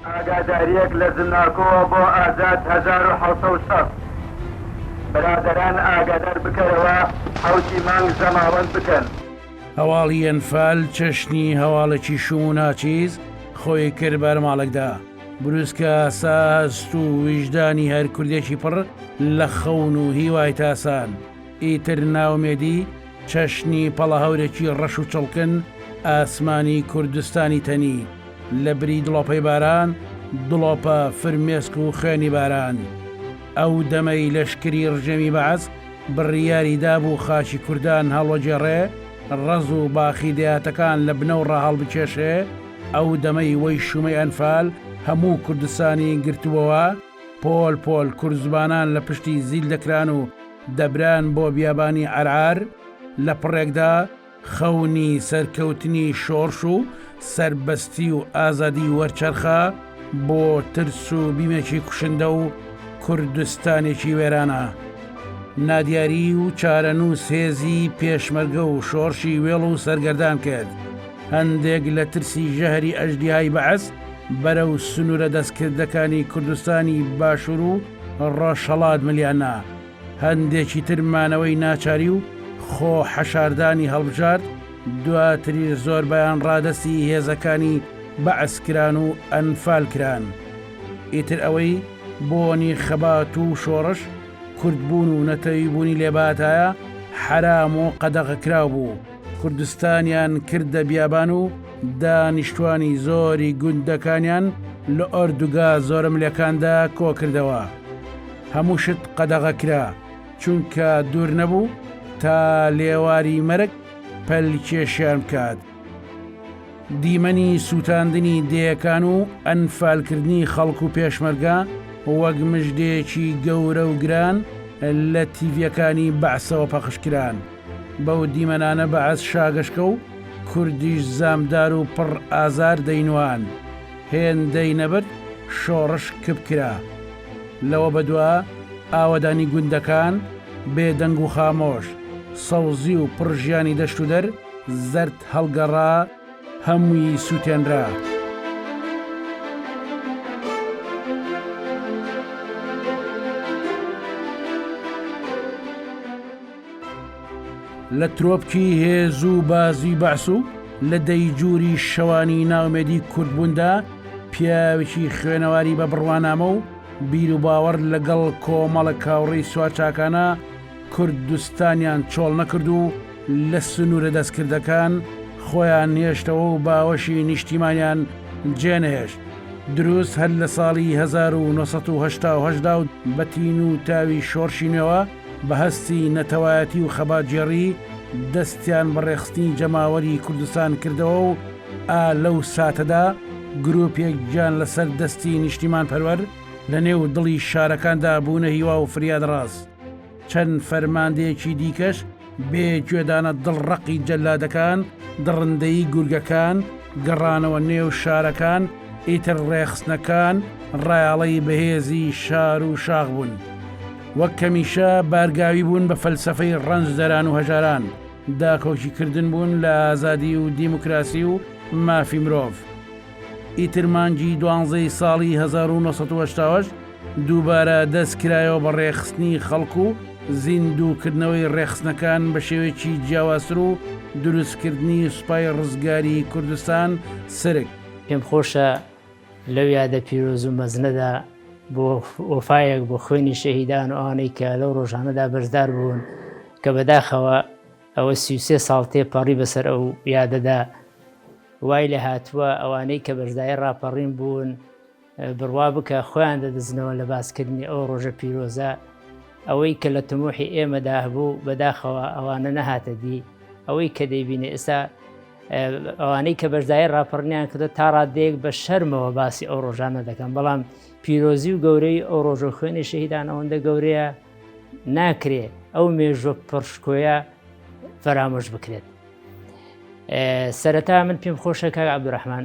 ئاگاداریەک لە زمناکۆوە بۆ ئازاد هەزار و حەوت سەد و شەست برادەران ئاگادار بکەرەوە حەوتی مانگ زەماوەند بکەن. هەواڵی ئەنفال چەشنی هەواڵێکی شوم و ناچیز خۆی کرد بەرماڵەکدا. بروسکە ئاسا هەست و ویژدانی هەر کوردێکی پڕ لە خەون و هیوای تاسان. ئیتر نائومێدی، چەشنی پەڵەهەورێکی ڕەش و چڵکن ئاسمانی کوردستانی تەنی، لە بری دڵۆپەی باران، دڵۆپە، فرمێسک و خوێنی باران. ئەو دەمەی لەشکری ڕژێمی بەعس بڕیاری دابوو خاکی کوردان هەڵوەگێڕێ، ڕەز و باخی دەیاتەکان لە بنەو ڕاهەڵبکێشێ، ئەو دەمەی وەی شوومەی ئەنفال هەموو کوردستانی گرتبۆوە، پۆل پۆل کورد زبانان لە پشتی زیل دەکران و دەبران بۆ بیابانی عەرعار، لە پڕێکدا خەونی سەرکەوتنی شۆڕش و سەربەستی و ئازادی وەرچەرخا بۆ ترس و بیمێکی کوشندە و کوردستانێکی وێرانە. نادیاری و چارەنووس هێزی پێشمەرگە و شۆڕشی وێڵ و سەرگەردان کرد. هەندێک لە ترسی ژەهری ئەژدیهای بەعس بەرەو سنوورە دەستکردەکانی کوردستانی باشوور و ڕۆژهەڵات ملیان نا، هەندێکی تر مانەوەی ناچاری و خۆ حەشاردانی هەڵبژارد، دواتریش زۆربەیان ڕادەستی هێزەکانی بەعس کران و ئەنفال کران. ئیتر ئەوەی بۆنی خەبات و شۆڕش، کوردبوون و نەتەویبوونی لێباتایە، حەرام و قەدەغەکراو بوو. کوردستانیان کردە بیابان و دانیشتوانی زۆری گوندەکانیان لە ئۆردوگا زۆرەملێکاندا کۆکردەوە. هەموو شت قەدەغە کرا، چونکە دوور نەبوو تا لێواری مەرگ پەلکێشیان بکات. دیمەنی سووتاندنی دێیەکان و ئەنفالکردنی خەڵک و پێشمەرگە وەک مژدێکی گەورە و گران لە تیڤییەکانی بەعسەوە پەخش کران. بەو دیمەنانە بەعس شاگەشکە و کوردیش زامدار و پڕ ئازار دەینواند، هێندەی نەبرد شۆڕش کپ کرا. لەوە بەدوا ئاوەدانی گوندەکان بێدەنگ و خامۆش، سەوزی و پڕ ژیانی دەشت و دەر زەرد هەڵگەڕا، هەمووی سووتێنرا. لە ترۆپکی هێز و بازی بەعس و لە دەیجووری شەوانی ناومێدی کوردبووندا پیاوێکی خوێنەواری بە بڕوانامە و بیروباوەڕ لەگەڵ کۆمەڵە کاوڕێی سوارچاکانە کوردستانیان چۆڵ نەکرد و لە سنوورە دەستکردەکان خۆیان نێشتەوە و باوەشی نیشتیمانیان جێنەهێشت دروست هەر لە ساڵی 1970دا و بە تین و تاوی شۆڕشی نوێوە بە هەستی نەتەوایەتی و خەباتگێڕی دەستیان بە ڕێخستنی جەماوەری کوردستان کردەوە و ئا لەو ساتەدا گروپێک گیان لەسەر دەستی نیشتیمانپەروەر لە نێو دڵی شارەکاندا بوونە هیوا و فریادڕاس. چەند فەرماندەیەکی دیکەش بێ گوێدانە دڵ ڕەقی جەلادەکان، دڕندەیی گورگەکان، گەڕانەوە نێو شارەکان، ئیتر ڕێخستنەکان ڕایاڵەی بەهێزی شار و شاخ بوون. وەک کەمیشە بارگاوی بوون بە فەلسفەی ڕەنجدەران و هەژاران، داکۆکی کردن بوون لە ئازادی و دیموکراسی و مافی مرۆڤ. ئیتر مانگی دوانزەی ساڵی 1970 دووبارە دەست کرایەوە بە ڕێخستنی خەڵک و زیندوو کردنەوەی ڕێخستنەکان بە شێوەیەکی جیاوازتر و دروستکردنی سوپای ڕزگاری کوردستان سرک. پێم خۆشە لەو یادە پیرۆز و مەزنەدا بۆ وەفایەک بۆ خوێنی شەهیدان و ئەوانەی کە لەو ڕۆژانەدا بەشدار بوون کە بەداخەوە ئەوە سیوسێ ساڵ تێپەڕی بەسەر ئەو یادەدا وای لە هاتووە ئەوانەی کە بەشدای ڕاپەڕین بوون بڕوا بکە خۆیان دەدزنەوە لە باسکردنی ئەو ڕۆژە پیرۆزە، ئەوەی کە لە تموحی ئێمەدا هەبوو بەداخەوە ئەوانە نەهاتە دی، ئەوەی کە دەیبینێ ئێستا ئەوانەی کە بەشدای ڕاپەڕنیان کردە تا ڕادەیەک بە شەرمەوە باسی ئەو ڕۆژانە دەکەن بەڵام پیرۆزی و گەورەی ئەو ڕۆژە خوێنی شەهیدان ئەوەندە گەورەیە ناکرێ ئەو مێژوە پڕشکۆیە فەرامۆش بکرێت سەرەتا من پێم خۆشەکە عبدڕحمان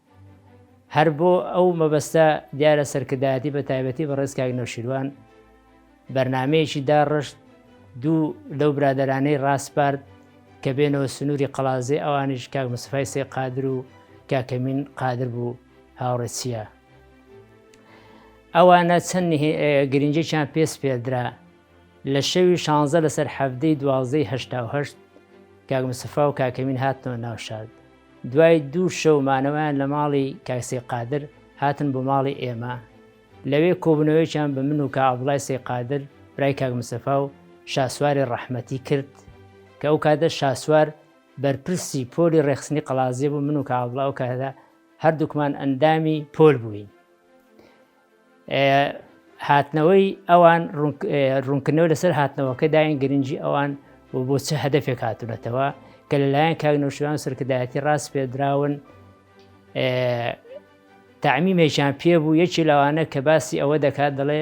هەر بۆ ئەو مەبەستە دیارە سەرکردایەتی بە تایبەتی بەڕێز کاک نەوشیروان بەرنمەیەکی داڕشت دوو لەو برادرانەی ڕاسپارد کە بێنەوە سنووری قەڵازێ ئەوانیش کاک مسفای سێ قادر و کاکەمین قادر بوو هاوڕێچیە ئەوانە چەند گرنجێکیان پێس پێدرا لە شەوی شانزە لەسەر حەفتەی دوازدەی هشتاهشت کاک مسفا و کاکەمین هاتنەوە ناوشاد دوای دوو شەو مانەوەیان لە ماڵی کاک سەی قادر هاتن بۆ ماڵی ئێمە لەوێ کۆبنەوەیان بە من و کا ئابلای سەی قادر برای کاک مسەفا و شاسواری ڕەحمەتی کرد کە ئەو کاتە شاسوار بەرپرسی پۆلی ڕێخستنی قەڵازیە بوو من و کابڵاو کەدا هەردووکمان ئەندامی پۆل بووین هاتنەوەی ئەوان ڕوونکردنەوە لەسەر هاتنەوەکە داین گرنگی ئەوان و بۆ چه هەدەفێک هاتونەتەوە کە لەلایەن کاک نەوشیروان سەرکردایەتی ڕاست پێدراون تعمیمێکیان پێ بوو یەکی لەوانە کە باسی ئەوە دەکات دەڵێ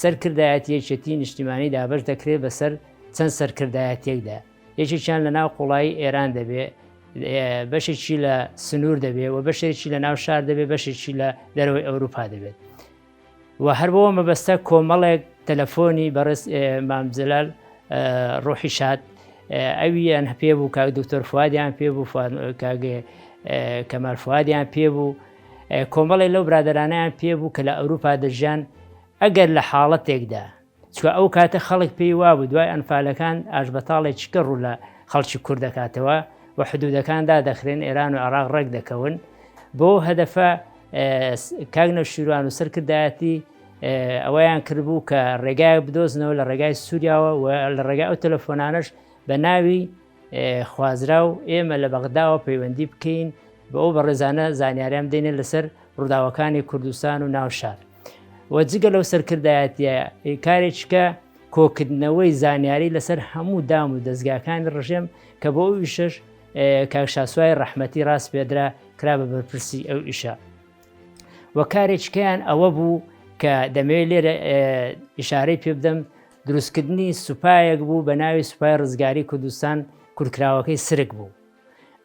سەرکردایەتی یەکێتی نیشتیمانی دابش دەکرێت بەسەر چەند سەرکردایەتێکدا یەکێکیان لە ناو قوڵایی ئێران دەبێ، بەشێکی لە سنوور دەبێ و بەشێکی لە ناو شار دەبێ بەشێکی لە دەرەوەی ئەوروپا دەبێت. و هەر بەوە مەبەستە کۆمەڵێک تەلەفۆنی بەڕێز مامجلال ڕۆحی شاد ئەویان هەپێ بوو کاک دکتۆر فوادیان پێ بوو کاگێ کەمال فوادیان پێ بوو کۆمەڵی لەو برادرانیان پێ بوو کە لە ئەوروپا دەژیان ئەگەر لە حاڵەتێکدا چوە ئەو کاتە خەڵک پێی وابوو دوای ئەنفالەکان ئاشبەتاڵێ چکە ڕوو لە خەڵکی کورد دەکاتەوە و حدودەکان دادەخرێن ئێران و عێراق ڕێک دەکەون بۆ هەدەفە کاک نەوشیروان و سەرکردایەتی ئەوەیان کردبوو کە ڕێگای بدۆزنەوە لە ڕێگای سووریاوە و لە ڕێگای ئەو تەلەفۆنانش بە ناوی خوازرا و ئێمە لە بەغداوە پەیوەندی بکەین بە ئەو بەڕێزانە زانیاریان دێنێ لەسەر ڕووداوەکانی کوردستان و ناوشار و جگە لەو سەرکردایەتیە کارێککە کۆکردنەوەی زانیاری لەسەر هەموو دام و دەستگاکانی ڕژێم کە بۆ ئەو ئیشش کاکشاسوای ڕەحمەتی ڕاست پێدرا کرا بە بەرپرسی ئەو ئیشە و کارێککەیان ئەوە بوو کە دەمەوێت لێرە ئشارەی پێ بدەم دروستکردنی سوپایەک بوو بە ناوی سوپای ڕزگاری کوردستان کورکراوەکەی سرک بوو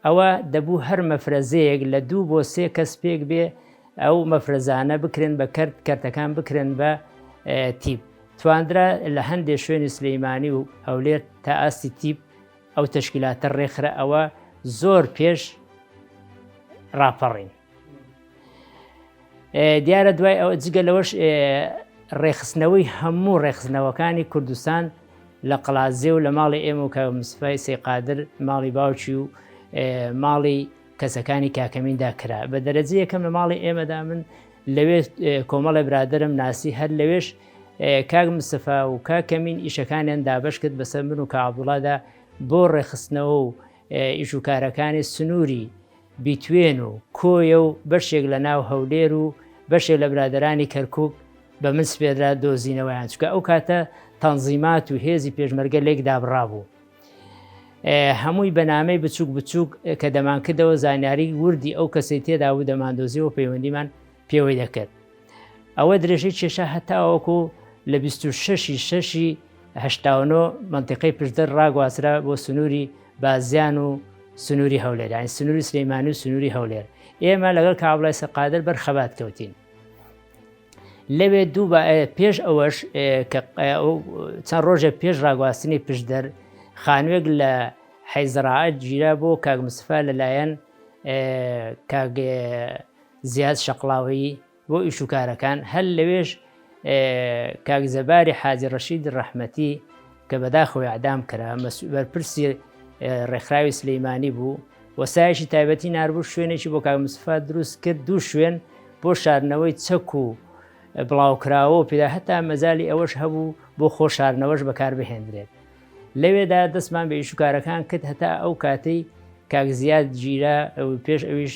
ئەوا دەبوو هەر مەفرەزەیەک لە دوو بۆ سێ کەس پێک بێ ئەو مەفرەزانە بکرێن بە کەرت کەرتەکان بکرێن بە تیپ تواندرا لە هەندێک شوێنی سلەیمانی و هەولێر تا ئاستی تیپ ئەو تشکیلاتە ڕێکخرا ئەوە زۆر پێش ڕاپەڕین دیارە دوای ئەو جگە لەوەش ڕێخستنەوەی هەموو ڕێخستنەوەکانی کوردستان لە قلازێ و لە ماڵی ئێمە و کە مسفای سێقادر ماڵی باوچی و ماڵی کەسەکانی کاکەمیندا کرا بە دەرەجە یەکەم لە ماڵی ئێمەدا من لەوێ کۆمەڵە برادرم ناسی هەر لەوێش کاک مسەفا و کا کەمین ئیشەکانیان دابش کرد بەسەر من و کابوڵادا بۆ ڕێخستنەوە و ئیش و کارەکانی سنووری بیتوێن و کۆیە و بەشێک لە ناو هەولێر و بەشێک لە برادەرانی کەرکوک بە من سپێررا دۆزینەوەیان چکە ئەو کاتە تەنزیمات و هێزی پێشمەرگە لێک دابڕابوو هەمووی بە نامەی بچووک بچووک کە دەمانکردەوە زانیاری وردی ئەو کەسی تێدا و دەماندۆزیەوە پەیوەندیمان پێوەی دەکرد ئەوە درێژەی کێشە هەتاوەکو لە 26 شەشی هەشتاونۆ منتیقەی پشدەر ڕاگوازرا بۆ سنووری بازیان و سنووری هەولێر یانی سنووری سلەیمانی و سنووری هەولێر ئێمە لەگەڵ کابلای سەقادر بەر خەبات کەوتین لەوێ دوو پێش ئەوەش چەند ڕۆژێک پێش ڕاگواستنی پشدەر خانوێک لە حەیزڕعات گیرا بۆ کاک مسفا لەلایەن زیاد شەقلاوی بۆ ئیش و کارەکان هەر لەوێش کاک زەباری حاجی ڕەشید ڕەحمەتی کە بەداخەوە ئەعدام کرا بەرپرسی ڕێکخراوی سلەیمانی بوو وەسایشی تایبەتی ناربوو شوێنێکی بۆ کاگمسفا دروست کرد دوو شوێن بۆ شارنەوەی چەک و بڵاوکراوە و پێدا هەتا مەزای ئەوەش هەبوو بۆ خۆ شارنەوەش بەکار بهێندرێت لەوێدا دەستمان بە ئیشوکارەکان کرد هەتا ئەو کاتەی کاک زیاد گیرا پێش ئەویش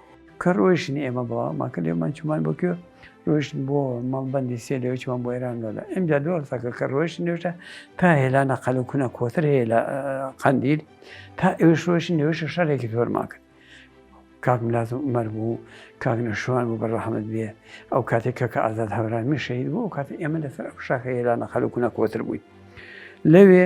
کە ڕۆیشتن ئێمە بەوە ماکە لێمان چمان بۆ کوێ ڕۆیشتن بۆ مەڵبندی سێ لێ چمان بۆ ئێران لۆدا ئەمجا دووە قسەکە کە ڕۆیشتن نوێشە تا هێلا نەقەل و کونە کۆتر هەیە لە قەندیل تا ئێوش ڕۆیشتن نوێشە شارێکی زۆرمان کرد کاک ملات و عمر بوو کاک نەشوان بوو بە ڕەحمت بێ ئەو کاتێک کە کە ئازاد هەورامی شەید بوو ئەو کاتی ئێمە لەسەر ئەو شاخە هێلا نەقەل و کونە کۆتر بووین لەوێ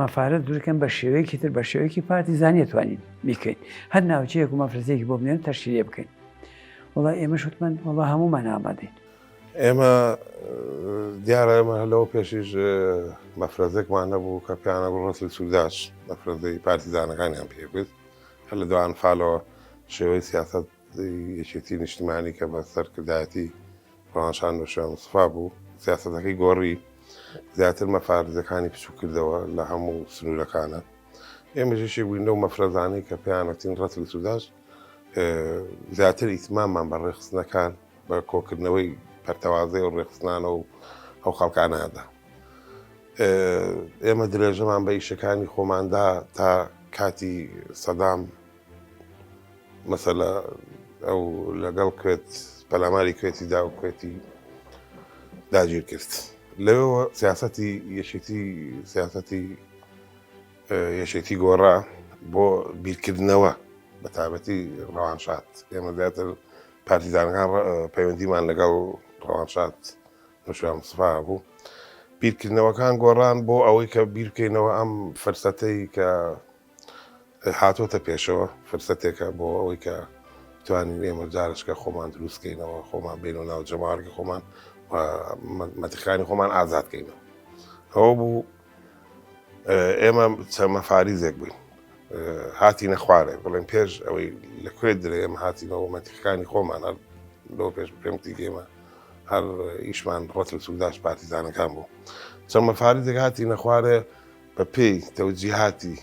مەفارەت دروکەن بە شێوەیەکی تر بە شێوەیەکی پارتی زانیە توانین بیکەین هەر ناوچەیەک و مەفرزێکی بۆ بنێن تەشکیلێ بکەین وڵا ئێمە شتمان وڵا هەمومان ئامادەین ئێمە دیارە ئێمە هەلەوە پێشیش مەفرەزێکمان نەبوو کە پیانە بۆ ڕسل سووداش مەفرەزەی پارتیزانەکانیان پێکرد هەر لە دوان فالەوە شێوەی سیاست یەکێتی نیشتمانی کە بە سەرکردایەتی ڕەوانشان نوشێن مستەفا بوو، سیاسەتەکەی گۆڕی، زیاتر مەفارزەکانی بچووک کردەوە لە هەموو سنوورەکانە. ئێمەش یەکێک بووین لەو مەفرەزانەی کە پێیان وتین ڕەتل سوداش، زیاتر ئیتماممان بە ڕێکخستنەکان بە کۆکردنەوەی پەرتەوازەی ئەو ڕێکخستنانە و ئەو خەڵکانە دا. ئێمە درێژەمان بە ئیشەکانی خۆمان دا تا کاتی سەدام مەسەلە ئەو لەگەڵ کوێت پەلاماری کوێتی دا و کوێتی داگیر کرد لەوەوە سیاستی یەکێتی سیاستی یەکێتی گۆڕا بۆ بیرکردنەوە بە تابەتی ڕەوانشات ئێمە زیاتر پارتیزانەکان پەیوەندیمان لەگەڵ ڕەوانشات نوشیان سفا بوو بیرکردنەوەکان گۆڕان بۆ ئەوەی کە بیرکەینەوە ئەم فرسەتەی کە هاتۆتە پێشەوە فرسەتێکە بۆ ئەوەی کە بتوانین ئێمە جارشکە خۆمان دروستکەینەوە خۆمان بین و ناو جەماڕگە خۆمان مەتەکانی خۆمان ئازادکەینەوە ئەوە بوو ئێمە چەمە فاریزێک بووین هاتی نەخوارێ بڵێن پێش ئەوەی لە کوێ درێ ئێمە هاتینەوە مەتیقانی خۆمان هەر لۆ پێش پێمتی گێمە هەر ئیشمان ڕەت و سووداش پارتیزانەکان بوو چەمە فاریزێک هاتی نەخوارێ بە پێی تەوجیهاتی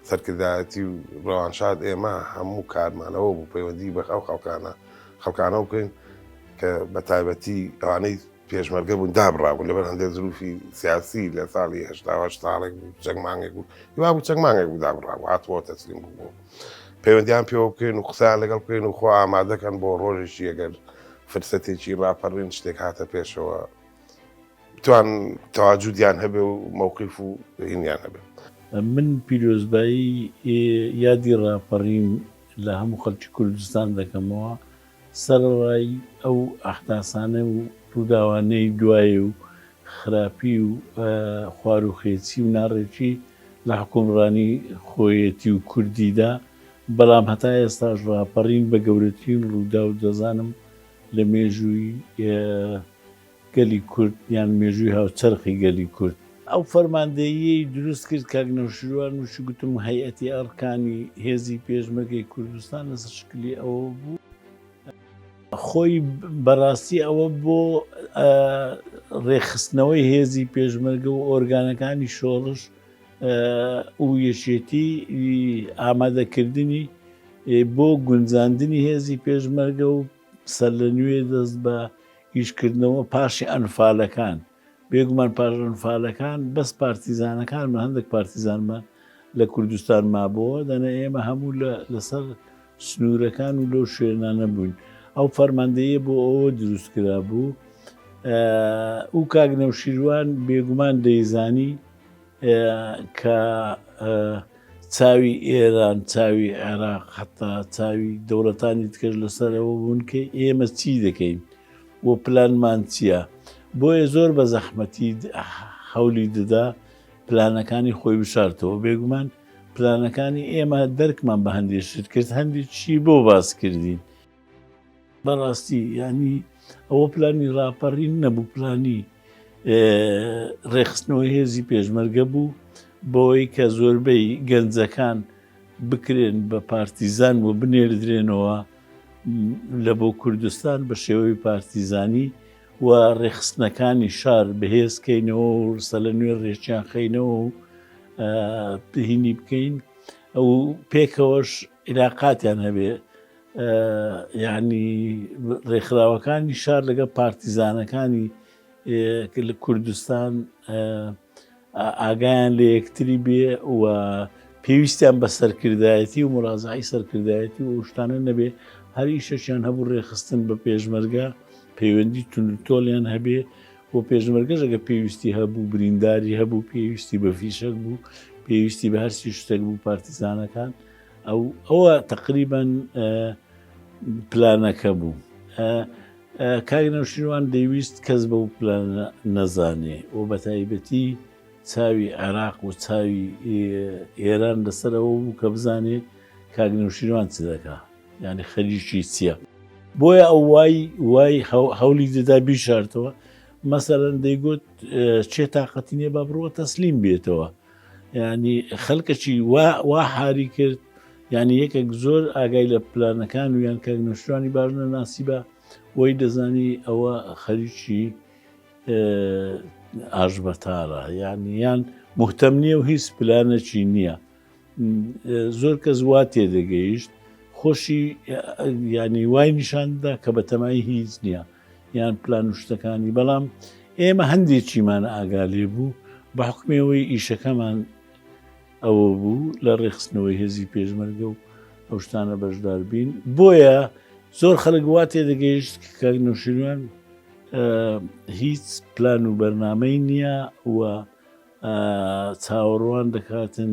سەرکردایەتی و ڕەوانشاد ئێمە هەموو کارمان ئەوە بوو پەیوەندی بە ئەو خەڵکانە خەڵکانەوە بکەین کە بە تایبەتی ئەوانەی پێشمەرگە بوون دابڕابوون لەبەر هەندێک زروفی سیاسی لە ساڵی هشتا ساڵێک بوو چەند مانگێک بوو هیوا بوو چەند مانگێک بوو دابڕابوو هاتووە تەسلیم بوو پەیوەندیان پێوە بکەین و قسەیان لەگەڵ بکەین و خۆ ئامادەکەن بۆ ڕۆژێکی ئەگەر فرسەتێکی ڕاپەڕین شتێک هاتە پێشەوە بتوان تەواجودیان هەبێ و مەوقیف و هینیان هەبێت من پیرۆزبایی یادی ڕاپەڕین لە هەموو خەڵکی کوردستان دەکەمەوە سەرڕای ئەو ئەحداسانە و ڕووداوانەی دوای و خراپی و خوار و خێچی و ناڕێکی لە حکومڕانی خۆیەتی و کوردیدا بەڵام هەتا ئێستاش ڕاپەڕین بە گەورەترین ڕوودا و دەزانم لە مێژووی گەلی کورد یان مێژووی هاوچەرخی گەلی کورد. ئەو فەرماندەییەی دروست کرد کاک نەوشیروان وشی گوتم هەیئەتی ئەڕکانی هێزی پێشمەرگەی کوردستان لەسەر شکلی ئەوە بوو، خۆی بەڕاستی ئەوە بۆ ڕێکخستنەوەی هێزی پێشمەرگە و ئۆرگانەکانی شۆڕش و یەکێتیی ئامادەکردنی بۆ گونجاندنی هێزی پێشمەرگە و سەرلەنوێ دەست بە ئیشکردنەوە پاش ئەنفالەکان، بێگومان پاش ئەنفالەکان بەس پارتیزانەکانمان هەندێک پارتیزانمان لە کوردستان مابۆوە، دەنا ئێمە هەموو لەسەر سنوورەکان و لەو شوێنانە بووین. ئەو فەرماندەییە بۆ ئەوە دروست کرابوو و کاک نەوشیروان بێگومان دەیزانی، کە چاوی ئێران چاوی عێراق حتا چاوی دەوڵەتانی تکرد لەسەرەوە بوون کە ئێمە چی دەکەین و پلانمان چییە بۆیە زۆر بە زەحمەتی حولی دەدا پلانەکانی خۆی بشارتەوە بێگومان پلانەکانی ئێمە دەرکمان بە هەندێک شت کرد هەندێک چی بۆ باس کردین بەڕاستی یانی ئەوە پلانی ڕاپەڕین نەبوو پلانی ڕێخستنەوەی هێزی پێشمەرگە بوو بۆی کە زۆربەی گەنجەکان بکرێن بە پارتیزان و بنێردرێنەوە لە بۆ کوردستان بە شێوەی پارتیزانی و ڕێخستنەکانی شار بەهێزکەینەوە و ڕسە لە نوێ ڕێکیان خینەوە و پهینی بکەین ئەو پێکەوەش عیلاقاتیان هەبێ یانی ڕێکخراوەکانی شار لەگە پارتیزانەکانی لە کوردستان ئاگایان لە یەکتری بێ و پێویستیان بە سەرکردایەتی و مڕازعی سەرکردایەتی و شتانە نەبێ هەر ئیشەشیان هەبوو ڕێخستن بە پێشمەرگە پەیوەندی تونتۆلیان هەبێ بۆ پێشمەرگەش ئەگەر پێویستی هەبوو برینداری هەبوو پێویستی بە فیشەک بوو پێویستی بە هەرسی شتێک بوو پارتیزانەکان ئەو ئەوە تقریبان پلانەکە بوو. کاک نەوشیروان دەیویست کەس بە و پلان نەزانێ و بە تایبەتی چاوی عێراق و چاوی ئێران لەسەرەوە بوو کە بزانێ کاک نەوشیروان چ دەکات. یانی خەریکی چییە؟ بۆیە ئەو وای وای هەولی دەدا بیشارتەوە مەسەرەن دەیگوت چێ تااقەتی نیە با بڕوە تەسلیم بێتەوە ینی خەلکەچی وا حاری کرد ینی یەکێک زۆر ئاگای لە پلانەکان و یان کاک نوشتوانی باش نەناسی بە وەی دەزانی ئەوە خەریکی ئاژبەتارە یان یان مهتەم نییە و هیچ پلانەکی نییە زۆر کەس وا تێدەگەیشت خۆشی ینی وای نیشاندا کە بە تەمای هیچ نییە یان پلان و شتەکانی بەڵام ئێمە هەندێکیمان ئاگا لێ بوو بە حکمەوەی ئیشەکەمان ئەوە بوو لە ڕێخستنەوەی هێزی پێشمەرگە و ئەو شتانە بەشدار بین بۆیە زۆر خەلک وا تێدەگەیشت کە نووشیروان هیچ پلان و بەرنمەی نییە و چاوەڕوان دەکاتن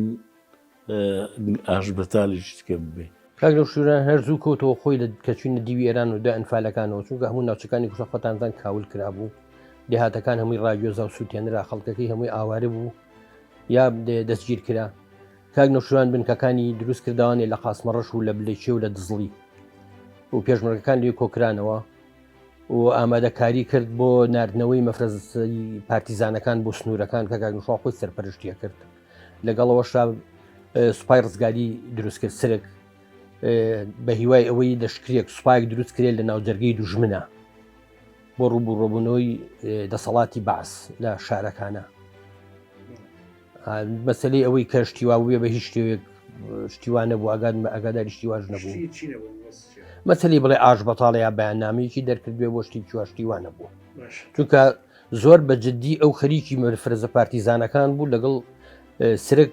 ئاشبەتالیش تکە ببێ. کاک نەوشیروان هەر زوو کەوتەوە خۆی لە کە چوینە دیوی ئێران و دوای ئەنفالەکانەوە چونکە هەموو ناوچەکانی کوشە خۆتانزان کاول کرابوو دێهاتەکان هەمووی ڕاگوێزا و سووتێنرا خەڵکەکەی هەمووی ئاوارە بوو یا دەستگیر کرا کاک نەوشیروان بنکەکانی دروست کردوانێ لە قاسمەڕەش و لە بلێکی و لە دزڵی و پێشمەرگەکان لێ کۆکرانەوە و ئامادەکاری کرد بۆ نردنەوەی مەفرەزی پارتیزانەکان بۆ سنوورەکان کە گاگنشا خۆی سەرپەرشتیە کرد لەگەڵەوە شاب سوپای ڕزگاری دروستکرد سرک بە هیوای ئەوەی لەشکرێک سوپایك دروست کرێت لە ناوجەرگی دوژمنە بۆ ڕوبوو ڕۆبوونەوەی دەسەڵاتی باس لە شارەکانە مەسەلەی ئەوەی کە شتیوا بێ بە هیچ شتێک شتیوانە بوو ئەگات بە ئەگاداری شتیواش نەبوو مەسەلی بڵێ ئاش بەتاڵە یا بەیاننامەیەکی دەرکردێ بۆ شتی چواشتیوانە بووە چونکە زۆر بە جددی ئەو خەریکی مرفرزە پارتیزانەکان بوو لەگەڵ سرک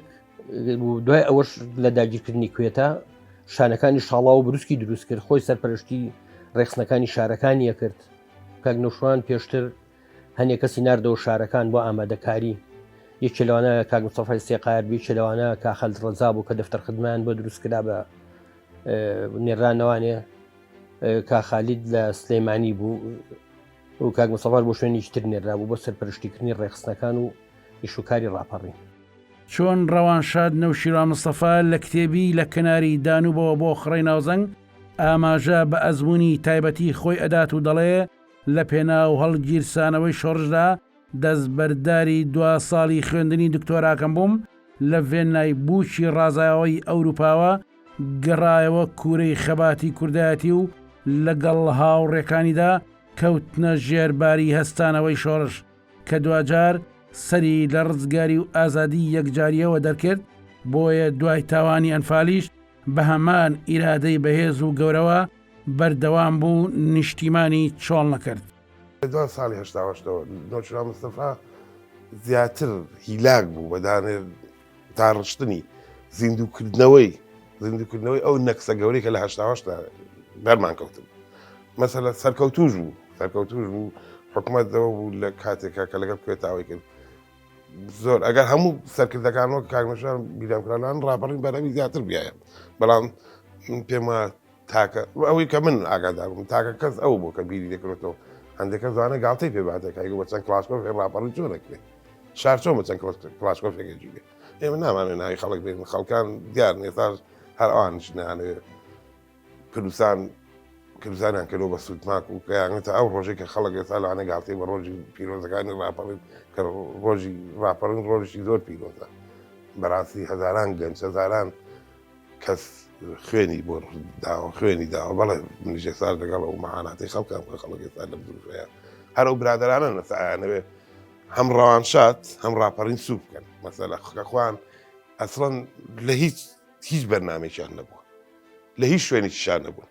دوای ئەوەش لە داگیرکردنی کوێتە شانەکانی شاڵا و بروسکی دروست کرد خۆی سەرپەرشتی ڕێخستنەکانی شارەکانیە کرد کاک نەشوان پێشتر هەنێ کەسی ناردەوە شارەکان بۆ ئامادەکاری، یەکێ لەوانە کاک مستەفای سێقایەر بوو، یەکێ لەوانە کاک خالید ڕەزا بوو کە دەفتەر خدمەیان بۆ دروست کرا بە نێرانەوانێ کاک خالید لە سلەیمانی بوو و کاک مستەفاش بۆ شوێنێکی تر نێرا بوو بۆ سەرپەرشتیکردنی ڕێکخستنەکان و ئیشوکاری ڕاپەڕین. چۆن ڕەوانشاد نەوشیروان مستەفا لە کتێبی لە کەناری دانوبەوە بۆ خڕەی ناوزەنگ ئاماژە بە ئەزموونی تایبەتی خۆی ئەدات و دەڵێ، لە پێناو هەڵگیرسانەوەی شۆڕشدا دەستبەرداری دوا ساڵی خوێندنی دکتۆراکەم بووم لە ڤێننای بووکی ڕازاوەی ئەوروپاوە گەڕایەوە کوورەی خەباتی کوردایەتی و لە گەڵ هاوڕێکانیدا کەوتنە ژێر باری هەستانەوەی شۆڕش کە دواجار سەری لە ڕزگاری و ئازادی یەکجاریەوە دەرکرد بۆیە دوای تاوانی ئەنفالیش بە هەمان ئیرادەی بەهێز و گەورەوە بەردەوام بوو نیشتیمانی چۆڵ نەکرد. لە دوان ساڵی هەشتا و هەشتەوە نۆچرا مستەفا زیاتر هیلاک بوو بە دانێر داڕشتنی زیندووکردنەوەی زیندووکردنەوەی ئەو نەکسە گەورەی کە لە هەشتا و هەشت دا بەرمان کەوتن مەسەلە سەرکەوتوش بوو سەرکەوتوش بوو حکومەت دەوە بوو لە کاتێکا کە لەگەڵ کوێتاوەی کرد زۆر ئەگەر هەموو سەرکردەکانەوە کاکنشان بیرامکرانان ڕاپەڕین بەرەوی زیاتر بیایە بەڵام پێم وایە تاکە ئەوەی کە من ئاگادار بووم تاکە کەس ئەو بوو کە بیری دەکرێتەوە هەندێکە زانە گاڵتەی پێ باتەکایگە بە چەند کلاسکۆفێ ڕاپەڕی چۆ دەکرێت شار چۆن بە چەند کلاسکۆفێکێکی بێت ئێمە نامانێ ناوی خەڵک بێن خەڵکان دیار نێتاش هەر ئەوان شنانەوێت کوردستان کردزانیان کردەوە بە سوودناک و کەیانێتە ئەو ڕۆژێک کە خەڵک ئێستا لەوانە گاڵتەی بە ڕۆژی پیرۆزەکانی ڕاپەڕین کە ڕۆژی ڕاپەڕین ڕۆژی زۆر پیرۆزە بەڕاستی هەزاران گەنج هەزاران کەس خوێنی بۆ داوە خوێنی داوە بەڵێ منیش ئێستا لەگەڵ ئەو مەعاناتی خەڵکان کە خەڵک ئێستا لەم دروشەیە هەر ئەو برادرانە نەسایانەوێ هەم ڕەوانشات هەم ڕاپەڕین سوو بکەن مەسەلە خەخواان ئەسڵەن لە هیچ هیچ بەرنمێکیان نەبووە لە هیچ شوێنێکیشان نەبوون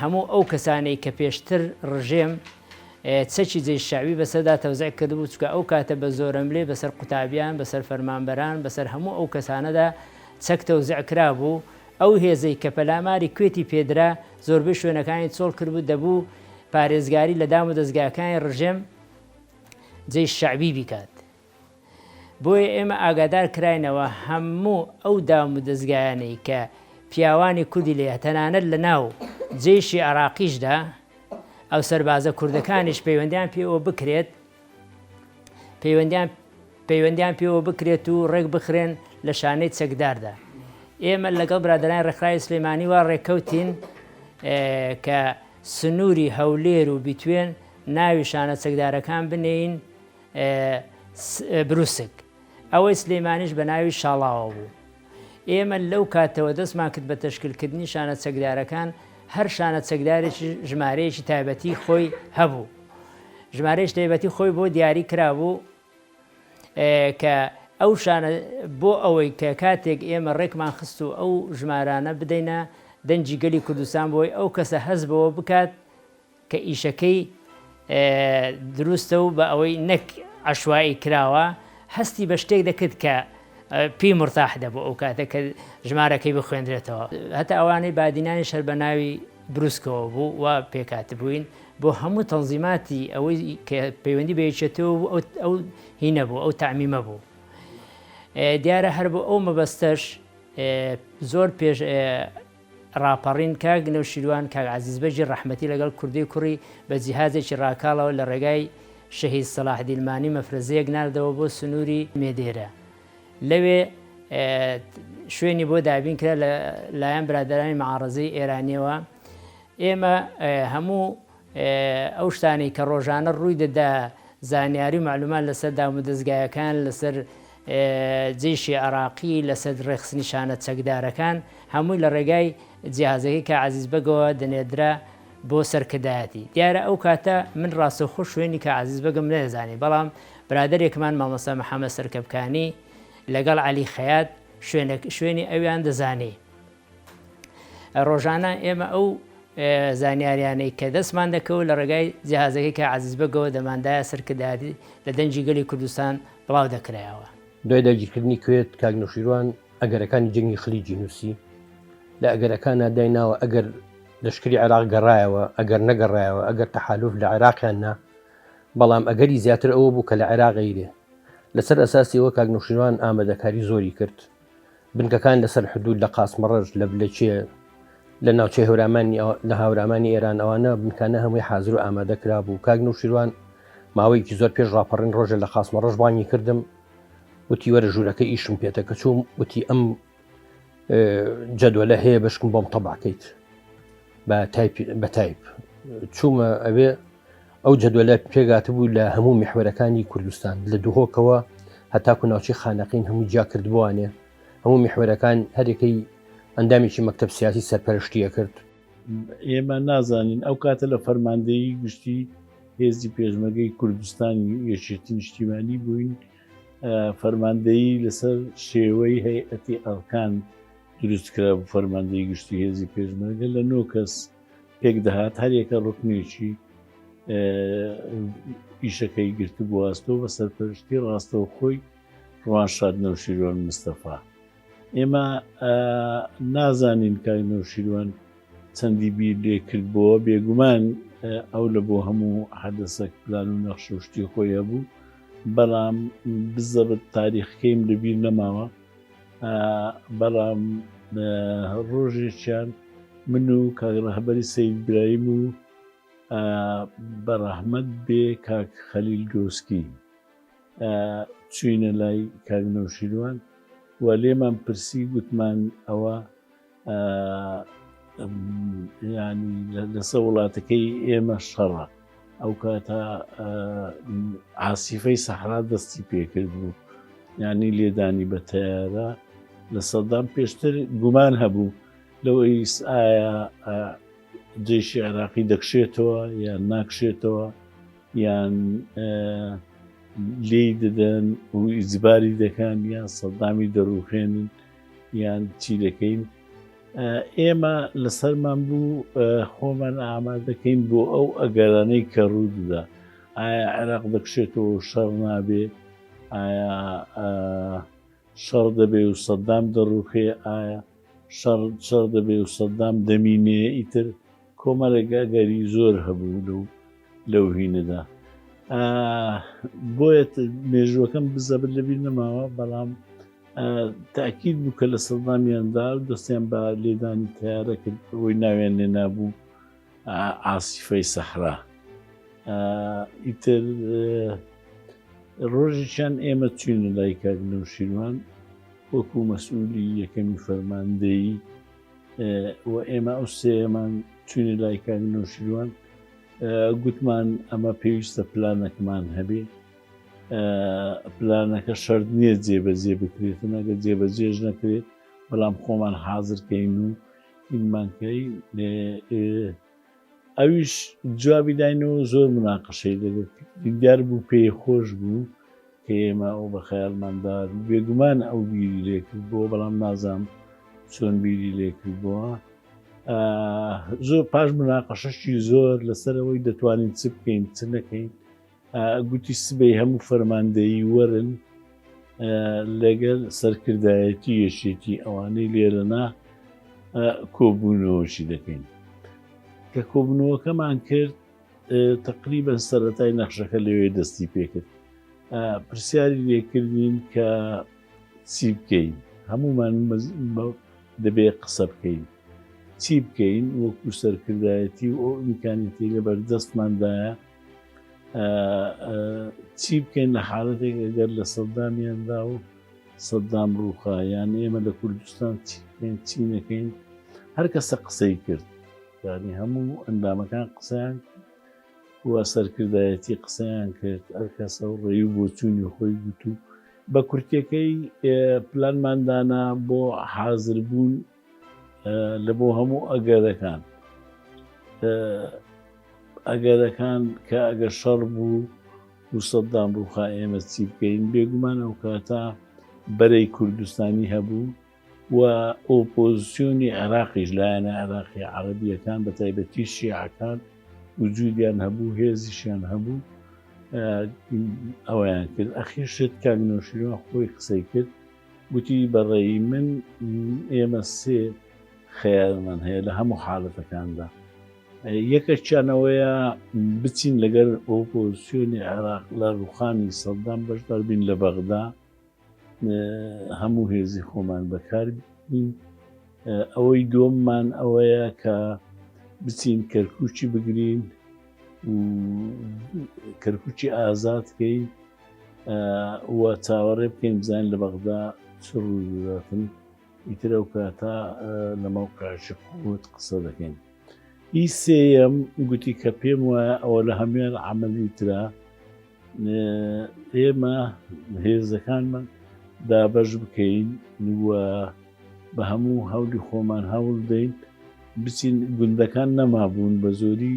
هەموو ئەو کەسانەی کە پێشتر ڕژێم چەکی جەیش شەعبی بەسەردا تەوزع کردبوو، چونکە ئەو کاتە بە زۆرەملێ بەسەر قوتابیان، بەسەر فەرمانبەران، بەسەر هەموو ئەو کەسانەدا چەک تەوزع کرابوو، ئەو هێزەی کە پەلاماری کوێتی پێدرا زۆربەی شوێنەکانی چۆڵ کردبوو، دەبوو پارێزگاری لە دامودەزگاکانی ڕژێم جەیش شەعبی بیکات. بۆیە ئێمە ئاگادار کراینەوە هەموو ئەو دام و دەزگایانەی کە پیاوانی کوردی لێ تەنانەت لە ناو جەیشی عێراقیشدا ئەو سەربازە کوردەکانیش پەیوەندیان پێوە بکرێت پەیوەندیان پەیوەندیان پێوە بکرێت و ڕێک بخرێن لە شانەی چەکداردا ئێمە لەگەڵ برادرانی ڕێکخراوی سلێمانی وا ڕێکەوتین کە سنووری هەولێر و بیتوێن ناوی شانە چەکدارەکان بنێین بروسک، ئەوەی سلێمانیش بە ناوی شاڵاوە بوو. ئێمە لەو کاتەوە دەستمان کرد بە تەشکیلکردنی شانە چەکدارەکان، هەر شانە چەکدارێکی ژمارەیەکی تایبەتی خۆی هەبوو. ژمارەیەکی تایبەتی خۆی بۆ دیاری کرابوو کە ئەو شانە بۆ ئەوەی کە کاتێک ئێمە ڕێکمان خست و ئەو ژمارانە بدەینە دەنگی گەلی کوردستان بۆی ئەو کەسە هەز بەوە بکات کە ئیشەکەی دروستە و بە ئەوەی نەک عەشوائی کراوە، هەستی بە شتێک دەکرد کە پێی مورتاح دەبوو ئەو کاتە کە ژمارەکەی بخوێندرێتەوە. هەتا ئەوانەی بادینانیش هەر بە ناوی بروسکەوە بوو، وا پێکهاتبووین. بۆ هەموو تەنزیماتی ئەوەی کە پەیوەندی بە یەکێتیەوە بوو، ئەو ئەو هینە بوو، ئەو تەعمیمە بوو. دیارە هەر بۆ ئەو مەبەستەش زۆر پێش ڕاپەڕین کاک نەوشیروان کاک عەزیز بەگی ڕەحمەتی لەگەڵ کوردی کوڕی بە جیهازێکی ڕاکاڵەوە لە ڕێگای شەهید سەڵاح دیلمانی مەفرەزەیەک ناردەوە بۆ سنوری مێدێرە لەوێ شوێنی بۆ دابین کرا لە لایەن برادرانی معاڕزەی ئێرانیەوە ئێمە هەموو ئەو شتانەی کە ڕۆژانە ڕووی دەدا زانیاری و مەعلومات لەسەر دامودەزگایەکان لەسەر جەیشی عێراقی لەسەر ڕێخستنیشانە چەکدارەکان هەمووی لە ڕێگای جیهازەکەی کا عەزیز بەگەوە دەنێردرا بۆ سەرکردایەتی دیارە ئەو کاتە من ڕاستەوخۆ شوێنی کا عەزیز بەگم نەیەزانی بەڵام برادێکمان مامۆستا محەممەد سەرکەپکانی لەگەڵ عەلی خەیات شوێنی ئەویان دەزانی ڕۆژانە ئێمە ئەو زانیاریانەی کە دەستمان دەکەوت لە ڕێگای جیهازەکەی کە عزیز بەگەوە دەماندایە سەرکردایەتی لە دەنجی گەلی کوردستان بڵاو دەکرایەوە. دوای داگیرکردنی کوێت کاک نەوشیروان ئەگەرەکانی جەنگی خلیجی نووسی لە ئەگەرەکانە دای ناوە ئەگەر لەشکری عێراق گەڕایەوە ئەگەر نەگەڕایەوە ئەگەر تەحالوف لە عێراقیان نا بەڵام ئەگەری زیاتر ئەوە بوو کە لە عێراقیرێ لەسەر ئەساسیەوە کاک نووشیروان ئامادەکاری زۆری کرد بنکەکان لەسەر حدود لە قاسمەڕەش لە بلەچێ لە ناوچەی هەورامانی لە هاورامانی ئێران ئەوانە بنکانە هەمووی حاضر و ئامادە کرا بوو کاک نوشیروان ماوەیەکی زۆر پێش ڕاپەڕین ڕۆژە لە قاسمەڕەش بانگی کردم وتی وەرە ژوورەکە ئیشم پێێتە کە چوم وتی ئەم جەدوەلە هەیە بەشکم بۆم تەباکەیت بە تایپ چوومە ئەوێ ئەو جەدوەلە پێگاتبوو لە هەموو میحوەرەکانی کوردستان لە دهۆکەوە هەتاکو ناوچی خانەقین هەموو جیا کردبووانێ هەموو میحوەرەکان هەرێکەی ئەندامێکی مەکتب سیاسی سەرپەرشتیە کرد. ئێمە نازانین ئەو کاتە لە فەرماندەیی گشتی هێزی پێشمەگەی کوردستانی یەکێتی نیشتیمانی بووین فەرماندەیی لەسەر شێوەی هەیئەتی ئەرکان دروست کرا بوو فەرماندەی گشتی هێزی پێشمەرگە لە نۆ کەس پێک دەهات هەر یەکە ڕوکنێکی ئیشەکەی گرتبوو ئەستۆ بە سەرپەرشتی ڕاستەوخۆی ڕوان شاد نەوشیروان مستەفا ئێمە نازانین کاک نەوشیروان چەندی بیر لێ کردبووە بێگومان ئەو لە بۆ هەموو حەدەسەک پلان و نەخشوشتی خۆی هەبوو بەڵام بزەبت تاریخەکەیم لەبیر نەماوە بەڵام ڕۆژێکیان من و کاک ڕەهبەری سید برایم و بە ڕەحمەت بێ کاک خەلیل گۆسکی چوینە لای کاک نەوشیروان و لێمان پرسی گوتمان ئەوە یانی لەسە وڵاتەکەی ئێمە شەڕە ئەو کاتە عسیفەی سەحرا دەستی پێکرد بوو ینی لێدانی بە تەیارە لە سەدام پێشتر گومان هەبوو لەوە ئیس ئایا جێشی عێراقی دەکشێتەوە یان ناکشێتەوە یان لێی دەدەن و ئیزباری دەکەن یان سەدامی دەڕوخێنن یان چی دەکەین؟ ئێمە لەسەرمان بوو خۆمان ئامادەکەین بۆ ئەو ئەگەرانەی کە ڕووددا ئایا عێراق دەکشێتەوە شەڕ نابێ ئایا شەڕ دەبێ و سەددام دەڕوخێ ئایا شەڕ شەڕ دەبێ و سەددام دەمینێ ئیتر کۆمەڵێک ئەگەری زۆر هەبوو لەو لەو هینەدا بۆیە مێژووەکەم بزەبت لەبیر نەماوە بەڵام تاکیید بوو کە لە سەدامیاندا و دەستیان بە لێدانی تیارە کرد بۆی ناوێن لێ نابوو ئاسیفەی سەحرا ئیتر ڕۆژێکیان ئێمە چوین لای کاک نەوشیروان وەکو مەسئولی یەکەمی فەرماندەیی و ئێمە ئەو سێمان چوینە لای کاک نوشیروان گوتمان ئەمە پێویستە پلانەکمان هەبێ پلانەکە شەرت نییە جێبەجێ بکرێت نەگە جێبەجێش نەکرێت بەڵام خۆمان حازرکەین و ئینمانکەی ئەویش جوابی داین و زۆر مناقەشەی دەبێت دیدار بوو پێی خۆش بوو کە ئێمە ئەو بە خەیاڵماندا بێگومان ئەو بیری لێکرد بۆ بەڵام نازام چۆن بیری لێکرد بووە زۆر پاش مناقەشەشی زۆر لەسەرەوەی دەتوانین چ بکەین چ نەکەین گوتی سبەی هەموو فەرماندەیی وەرن لەگەر سەرکردایەتی یەکێتی ئەوانەی لێرەنا کۆبوونەوەشی دەکەین کە کۆبنەوەکەمان کرد تقریبن سەتای نەخشەکە لەوێ دەستی پێکرد پرسیاری لێکردین کە چی بکەین هەمومان دەبێ قسە بکەین چی بکەین وەکو سەرکردایەتی و ئەو ئیمکانەتی لە بەردەستماندایە چی بکەین لە حالەتێک ئەگەر لە سەددامیاندا و سەددام ڕووخا یان ئێمە لە کوردستان چی بکەین چی نەکەین هەر کەسە قسەی کرد ینی هەموو ئەندامەکان قسەیان وە سەرکردایەتی قسەیان کرد ئەر کەسە و ڕێی و بۆچوونی خۆی گوتو بە کورتەکەی پلانماندانە بۆ حازربوون لە بۆ هەموو ئەگەرەکان ئەگەرەکان کە ئەگەر شەڕ بوو و سەددام ڕووخا ئێمە چی بکەین بێگومان ئەو کاتە بەرەی کوردستانی هەبوو و ئۆپۆزیسیۆنی عێراقیش لایەنە عێراقی عربیەکان بە تایبەتی شیعەکان وجودیان هەبوو هێزیشیان هەبوو ئەویان کرد ئەخیشت کاک نۆشیرۆ خۆی قسەی کرد گوتی، بە ڕێی من ئێمە سێ خەیارمان هەیە لە هەموو حالەتەکاندا. یەکەکیان ئەوەیە بچین لەگەر ئۆپۆزسیۆنی عێراق لە ڕووخانی سەددام بەشدار بین لە بەغدا، هەموو هێزی خۆمان بەکار بین. ئەوەی دووەممان ئەوەیە کە بچین کەرکووکی بگرین و کەرکووکی ئازاد کەین. و چاوەڕێ بکەین بزانین لە بەغدا چ ڕوو دەداتن ئیتر ئەو کاتە لە مەوقعشی قوت قسە دەکەین ئی سێەم گوتی کە پێم وایە ئەوە لە هەموان عملی تررا ئێمە هێزەکانمان دابەش بکەین و بە هەموو هەولی خۆمان هەوڵ دەین بچین گوندەکان نەمابوون بە زۆری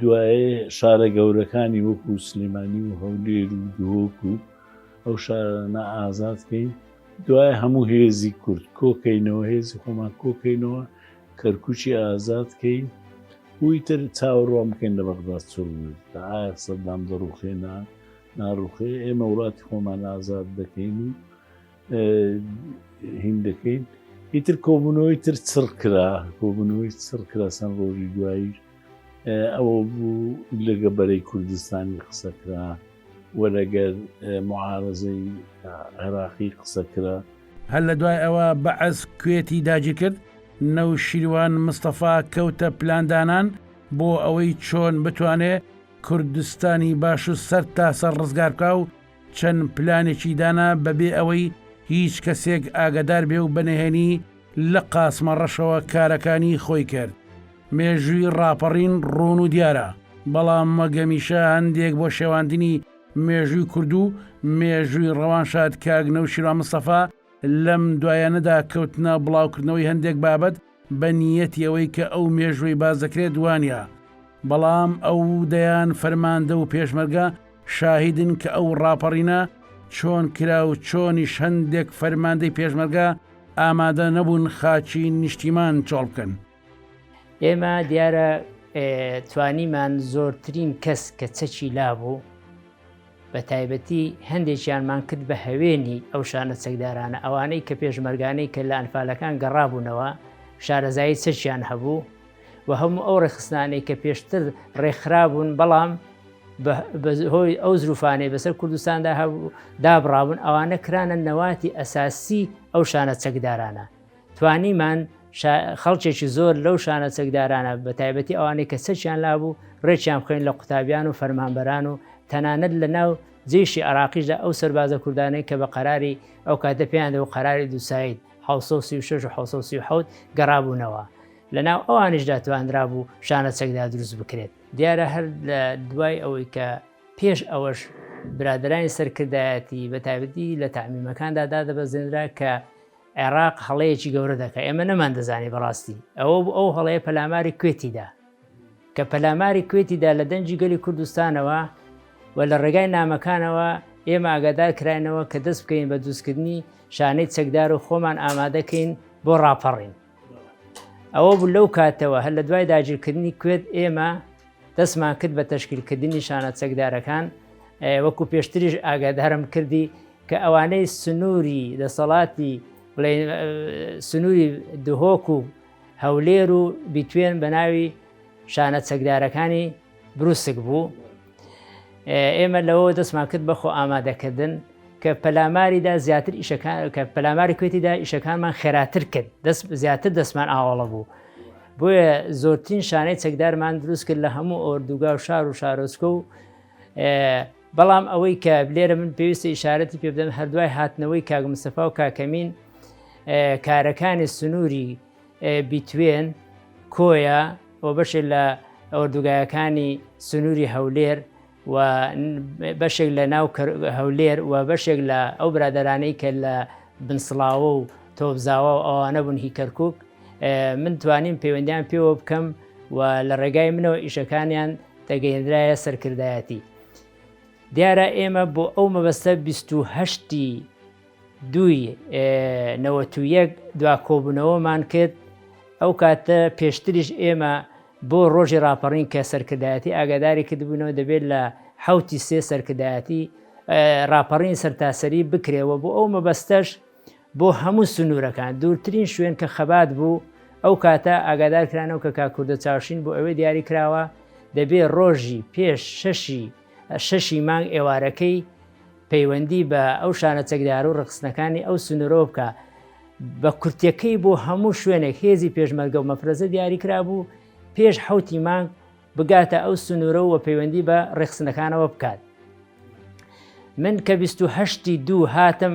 دوایێ شارە گەورەکانی وەکوو سلێمانی و هەولێر و دهۆک و ئەو شارانە ئازاد کەین، دوایێ هەموو هێزی کورد کۆ کەینەوە، هێزی خۆمان کۆ کەینەوە، کەرکووکی ئازاد کەین و ئیتر چاوەڕوان بکەین لە بەغداد چ ڕوو دەدا، ئایا سەددام دەڕووخێ نا ناڕووخێ، ئێمە وڵاتی خۆمان ئازاد دەکەین و هین دەکەین ئیتر کۆبوونەوەی تر چڕ کرا کۆبوونەوەی چڕ کرا سەند ڕۆژی دوایی ئەوە بوو لەگە بەرەی کوردستانی قسەکرا و لەگەر معارزەی عێراقی قسەکرا هەر لە دوای ئەوە بەعس کوێتی داگیر کرد نەو شیروان مستەفا کەوتە پلاندانان بۆ ئەوەی چۆن بتوانێ کوردستانی باش و سەر تاسەر ڕزگار بکە و چەند پلانێکی دانا بەبێ ئەوەی هیچ کەسێک ئاگەدار بێ و بەنهێنی لە قاسمە ڕەشەوە کارەکانی خۆی کرد. مێژووی ڕاپەڕین ڕوون و دیارە، بەڵام وەک هەمیشە هەندێک بۆ شێواندنی مێژووی کورد و مێژووی ڕەوانشاد کاک نەوشیروان مستەفا لەم دوایانەدا کەوتنە بڵاوکردنەوەی هەندێک بابەت بە نیەتی ئەوەی کە ئەو مێژوەی باس دەکرێت وانیە، بەڵام ئەو و دەیان فەرماندە و پێشمەرگە شاهیدن کە ئەو ڕاپەڕینە چۆن کرا و چۆنیش هەندێک فەرماندەی پێشمەرگە ئامادە نەبوون خاکی نیشتیمان چۆڵ بکەن. ئێمە دیارە توانیمان زۆرترین کەس کە چەکی لابوو، بە تایبەتی هەندێکیانمان کرد بە هەوێنی ئەو شانە چەکدارانە ئەوانەی کە پێشمەرگانەی کە لە ئەنفالەکان گەڕابوونەوە شارەزایی چەکیان هەبوو و هەموو ئەو ڕێخستانەی کە پێشتر ڕێکخرابوون بەڵام هۆی ئەو زروفانەی بەسەر کوردستاندا هەبوو دابڕابوون ئەوانە کرانە نەواتی ئەساسی ئەو شانە چەکدارانە توانیمان خەڵکێکی زۆر لەو شانە چەکدارانە بە تایبەتی ئەوانەی کە چەکیان لابوو ڕێکیان بخۆین لە قوتابیان و فەرمانبەران و تەنانەت لە ناو جێشی عراقیش لە ئەو سەربازە کوردانەی کە بە قەراری ئەو کاتە پێیان و قەراری دووسایت 1970 گەڕابوونەوە لە ناو ئەوانیشدا تواندرا بوو شانە چەکدا دروست بکرێت دیارە هەر لە دوای ئەوەی کە پێش ئەوەش برادرانی سەرکردایەتی بە تایبەتی لە تعمیمەکاندا دادەبەزێنرا کە عێراق هەڵەیەکی گەورە دەکا ئێمە نەمان دەزانی بەڕاستی ئەوە بوو ئەو هەڵەیە پەلاماری کوێتیدا کە پەلاماری کوێتیدا لە دەنجی گەلی کوردستانەوە و لە ڕێگای نامەکانەوە ئێمە ئاگادار کراینەوە کە دەست بکەین بە دروستکردنی شانەی چەکدار و خۆمان ئامادەکەین بۆ ڕاپەڕین ئەوە بوو لەو کاتەوە هەر لە دوای داگیرکردنی کوێت ئێمە دەستمان کرد بە تەشکیلکردنی شانە چەکدارەکان وەکو پێشتریش ئاگادارم کردی کە ئەوانەی سنووری دەسەڵاتی بڵێن سنووری دهۆک و هەولێر و بیتوێن بە ناوی شانە چەکدارەکانی بروسک بوو ئێمە لەوە دەستمان کرد بەخۆ ئامادەکردن کە پەلاماریدا زیاتر ئیشەکان کە پەلاماری کوێتیدا ئیشەکانمان خێراتر کرد دەست زیاتر دەستمان ئاواڵە بوو بۆیە زۆرترین شانەی چەکدارمان دروست کرد لە هەموو ئۆردوگا و شار و شارۆچکە و بەڵام ئەوەی کە لێرە من پێویستە ئیشارەتی پێ بدەم هەردوای هاتنەوەی کاک مستەفا و کاکەمین کارەکانی سنووری بیتوێن کۆیە و بەشێ لە ئەوەردوگایەکانی سنووری هەولێر و بەشێک لە ناو هەولێر و بەشێک لە ئەو برادرانەی کە لە بنسڵاوە و تۆبزاوە و ئەوانە بوون هی کەرکک من توانیم پەیوەندیان پێوە بکەم و لە ڕێگای منەوە ئیشەکانیان دەگەیندرایە سەرکردایەتی دیارە ئێمە بۆ ئەو مەبەستە 28ی دوی نەوەتویەک دوا کۆبوونەوەمان کرد ئەو کاتە پێشتریش ئێمە بۆ ڕۆژی راپەڕین کە سەرکردایەتی ئاگاداری کردبوونەوە دەبێت لە حوتی سێ سەرکردایەتی راپەڕین سەرتاسەری بکرێەوە بۆ ئەو مەبەستەش بۆ هەموو سنوورەکان، دوورترین شوێن کە خەبات بوو، ئەو کاتە ئاگادارکرانەوە کە کاک کوردە چاوشین بۆ ئەوێ دیاری کراوە، دەبێ ڕۆژی پێش شەشی شەشی مانگ ئێوارەکەی پەیوەندی بە ئەو شانە چەکدارو ڕێکخستنەکانی ئەو سنوورەوە بکا، بە کورتیەکەی بۆ هەموو شوێنێک هێزی پێشمەرگەو مەفرەزە دیاری کرابوو پێش حەوتی مانگ بگاتە ئەو سنوورەو و پەیوەندی بە ڕێکخستنەکانەوە بکات. من کە بیست و هەشتی دوو هاتم،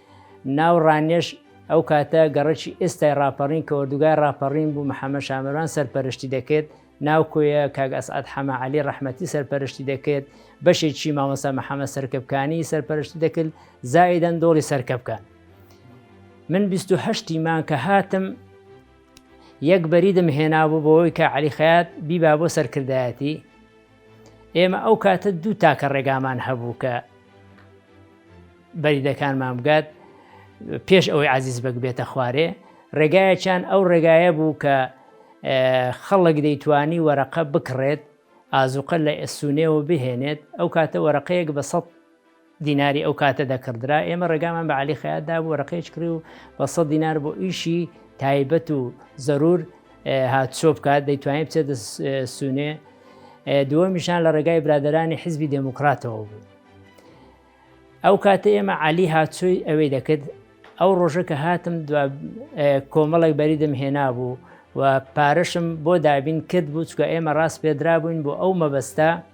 ناو ڕانیەش ئەو کاتە گەڕەکی ئێستای ڕاپەڕین کە ئۆردوگای ڕاپەڕین بوو محەمەد شامەران سەرپەرشتی دەکرد، ناو کۆیە کاک ئەسعەد حەمە عەلی ڕەحمەتی سەرپەرشتی دەکرد، بەشێکی مامۆستا محەمەد سەرکەپکانی سەرپەرشتی دەکرد، زائیدەن دۆڵی سەرکەپکان. من بیست و هەشت تیمان کە هاتم یەک بەریدم هێنابوو بۆەوەی کە عەلی خەیات بیبا بۆ سەرکردایەتی، ئێمە ئەو کاتە دوو تاکە ڕێگامان هەبوو کە بەریدەکانمان بگات پێش ئەوەی عزیز بەگ بێتە خوارێ ڕێگایەکیان ئەو ڕێگایە بوو کە خەڵک دەیتوانی وەرەقە بکڕێت ئازوقە لە ئەسونێەوە بهێنێت ئەو کاتە وەرەقەیەک بە سە دیناری ئەو کاتە دەکڕدرا، ئێمە ڕێگامان بە عەلی خەیات دابوو ڕقێچ کڕی و بە سەد دینار بۆ ئیشی تایبەت و زەرور هاتچۆ بکات دەیتوانین بچێتە سونێ دووەمیشان لە ڕێگای برادرانی حزبی دێموکراتەوە بوو ئەو کاتە ئێمە علی هاتچۆی ئەوەی دەکرد ئەو ڕۆژە کە هاتم کۆمەڵێک بەریدم هێنا بوو و پارەشم بۆ دابین کرد بوو چکە ئێمە ڕاست پێدرا بووین بۆ ئەو مەبەستا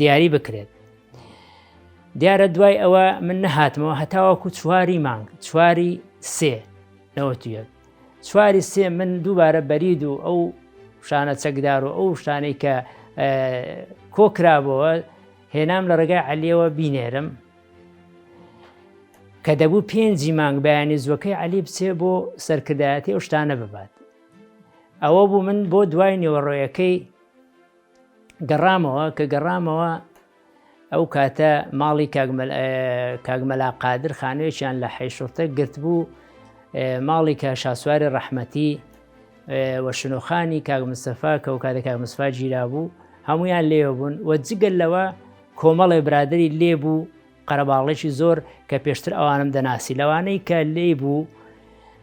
دیاری بکرێت دیارە دوای ئەوە من نەهاتمەوە هەتاوەکو چواری مانگ چواری سێ نەوەتویەک چواری سێ من دووبارە بەرید و ئەو شانە چەکدار و ئەو شتانەی کە کۆکرابەوە هێنام لە ڕێگای عەلیەوە بینێرم کە دەبوو پێنجی مانگ بەیانی زوەکەی عەلی بچێ بۆ سەرکردایەتی ئەو شتانە ببات ئەوە بوو من بۆ دوای نێوەڕۆیەکەی گەڕامەوە کە گەڕامەوە ئەو کاتە ماڵی کاگمەلا قادر خانوێکیان لە حیشورتە گرتبوو ماڵی کە شاسواری ڕەحمەتی وە شنۆخانی کاگ مسەفا کە و کاتە کاگ مسفا گیرا بوو هەمویان لێوە بوون وە جگەل لەوە کۆمەڵێ برادری لێبوو قەرەباڵغیی زۆر کە پێشتر ئەوانم دەناسی، لەوانەی کە لێی بوو،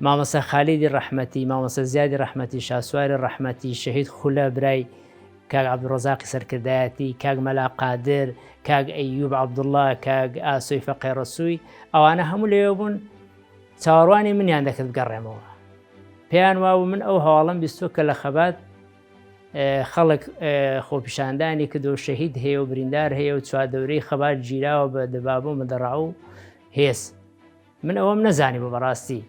مامۆستا خالیدی ڕەحمەتی، مامۆستا زیادی ڕەحمەتی، شاسواری ڕەحمەتی، شەهید خولە برای کاک عەبدولڕەزاقی سەرکردایەتی، کاک مەلا قادر، کاک ئەیوب عەبدوڵڵا، کاک ئاسۆی فەقێ ڕەسووی، ئەوانە هەموو لەوێ بوون، چاوەڕوانی منیان دەکرد بگەڕێمەوە. پێیان وابوو من ئەو هەواڵەم بیستووە کە لە خەبات، خەڵک خۆپیشاندانی کردو شەهید هەیە و بریندار هەیە و چواردەورەی خەبات گیراوە بە دەبابۆ مدەڕاو هێز من ئەوەم نەزانی بۆ بەڕاستی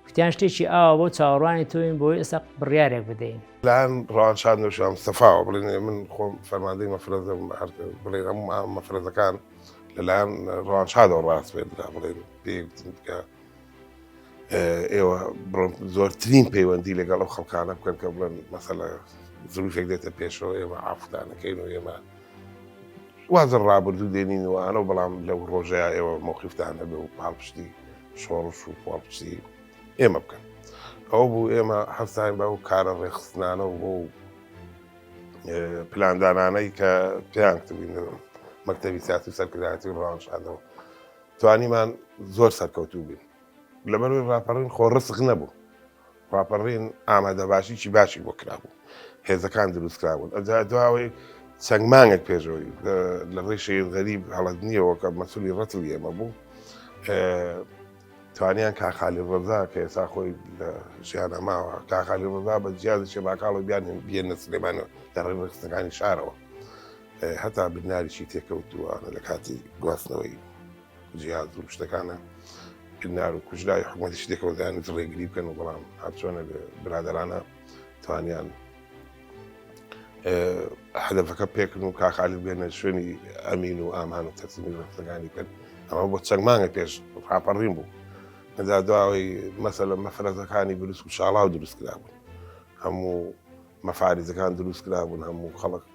کوتیان شتێکی ئاوا بۆ چاوەڕوانی تۆین بۆی ئێستا بڕیارێک بدەین لایەن ڕوانشان دەشام سەفاوە بڵێن من خۆم فەرماندەی مەفرەزە بڵێن ئەم مەفرەزەکان لەلایەن ڕوانشادەوە ڕاست بێت بڵێن پێ ئێوە بڵم زۆرترین پەیوەندی لەگەڵ ئەو خەڵکانە بکەن کە بڵێن مەسەلە زروشێک دێتە پێشەوە ئێمە ئافدانەکەین و ئێمە وازە ڕابردوو دێنین و ئەنە بەڵام لەو ڕۆژەیە ئێوە مۆخیفتان هەبێ و پاڵپشتی شۆڕش و پاڵپشتی ئێمە بکەن ئەو بوو ئێمە هەستاین بە ئەو کارە ڕێخستنانە و بۆ پلاندانانەی کە پێیان کردین مەکتتەبی سیاسی سەرکردایەتی ڕانشادەوە توانیمان زۆر سەرکەوتوو بین لەبەروی ڕاپەڕین خۆ ڕسق نەبوو ڕاپەڕین ئامادە باشیی باشی بۆ کرابوو هێزەکان دروستکرابوون ئەجا دواوەی چەند مانگێک پێشەوەی لە ڕێی شەید غەریب هەڵەت نییەوە کە مەسولی ڕەتل ئێمە بوو توانیان کاخالی ڕزا کە ئێسا خۆی لە ژیانە ماوە کاخالی ڕزا بە جیازی شێباکاڵە بیان بیێنە سلێمانەوە لە ڕێ ڕخستەکانی شارەوە هەتا بناریشی تێکەوتووە لە کاتی گواستنەوەی جیاز و شتەکانە بنار و کوژرای حکوومەتیش تێکەوەدان ڕێگری بکەن و بەڵام هەرچۆنە برادرانە توانیان هەدەفەکە پێکن و کاخالی بێنە شوێنی ئەمین و ئامان و تەسمی ڕفتەکانی کرد ئەمە بۆ چەند مانگە پێش ڕاپەڕین بوو ئەدا دواوەی مەسەلە مەفرەتەکانی بروس و شاڵاو دروست کرابوون هەموو مەفاریزەکان دروست کرابوون هەموو خەڵک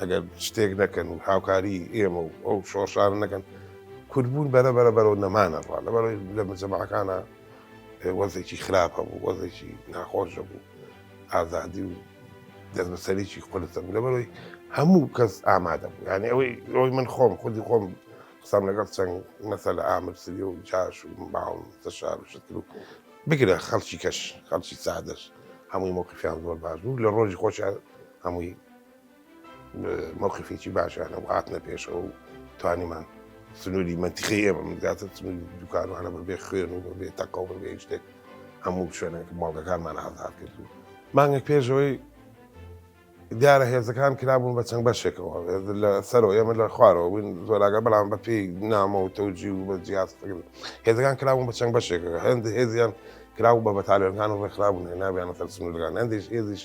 ئەگەر شتێک نەکەن و هاوکاری ئێمە و ئەو شۆڕشان نەکەن کوردبوون بەرە بەرە بەرەوە نەمانەڕوا لەبەر لە مجەماعەکانە وەزێکی خراپ هەبوو وەزێکی ناخۆش بوو ئازادی و دەستبەسەرێکی قلتە بوو لەبەرەوەی هەموو کەس ئامادە بوو یعنی ئەوەی ئەوەی من خۆم خودی خۆم قسەم لەگەڵ چەند مەسە لە ئامر سری و جاش و باڵ تەشار و شتر و بگرە خەڵکی کەش خەڵکی سادەش هەمووی مۆقفیان زۆر باش بوو لە ڕۆژی خۆشیان هەمووی مەوقیفێکی باشانە و هاتنە پێشەوە و توانیمان سنووری مەنتیقی ئێمە منگاتە سنووری دوکانوانە بەبێ خوێن و بەبێ تەقە و بەبێ شتێک هەموو شوێنێک ماڵەکانمان ئازاد کرد و مانگێک پێشەوەی دیارە هێزەکان کرابوون بە چەند بەشێکەوە لە سەرەوە ئێمە لە خوارەوە بووین زۆراگە بەڵام بە پێی نامە و تەوجی و بە جیاز هێزەکان کرابوون بە چەند بەشێکەکە هەند هێزیان کراو بە بەتالێنەکان و ڕێکخرابوون نابیانە سەر سنوورگان هەندێک هێزیش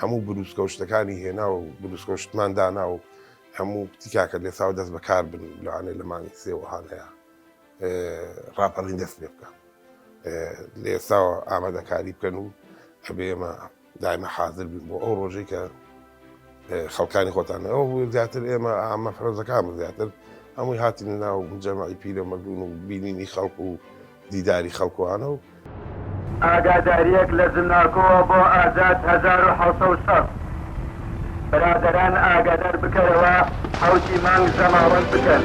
هەموو بروسکەو شتەکانی هێناو بروسکەو شتمان دانا و هەموو کوتی کاکە لێساو دەست بەکار بن لەوانێ لە مانگی سێ وەهانەیە ڕاپەڕین دەست پێ بکەن لە ئێستاوە ئامادەکاری بکەن و ئەبێ ئێمە دایمە حاضر بین بۆ ئەو ڕۆژەی کە خەڵکانی خۆتانەوە بوو زیاتر ئێمە ئامە فرۆزەکان زیاتر هەمووی هاتن ناو جەماعی پیرە مەدون و بینینی خەڵک و دیداری خەڵکوانە و. ئاگادارییەک لە زمناکۆوە بۆ ئازاد هەزار و حەوت سەد و شەست برادەران ئاگادار بکەرەوە حەوتی مانگ زەماوەند بکەن.